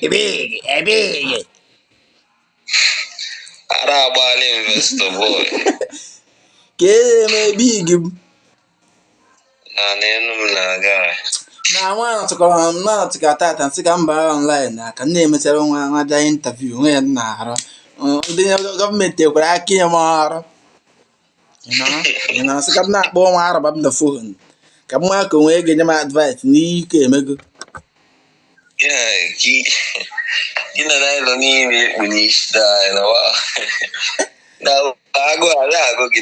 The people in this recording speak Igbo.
Ebighi, ebighi. Ara agbaala investor boy. Ka e eme ebighi m. Na n'elu m na-aga. Na nwa anọtụkọrọ m na-anọtụkata m sị ka m baa online na ka nne emechara nwa nwa bịa interview nwe ya na-arụ. Ndị gọọmenti ekwere aka inye m ọrụ. ị na-asị ka m na-akpọ nwa araba m na fon ka m ma ka onwe ga-enye m advice n'ihe ike emego agụ agụ gị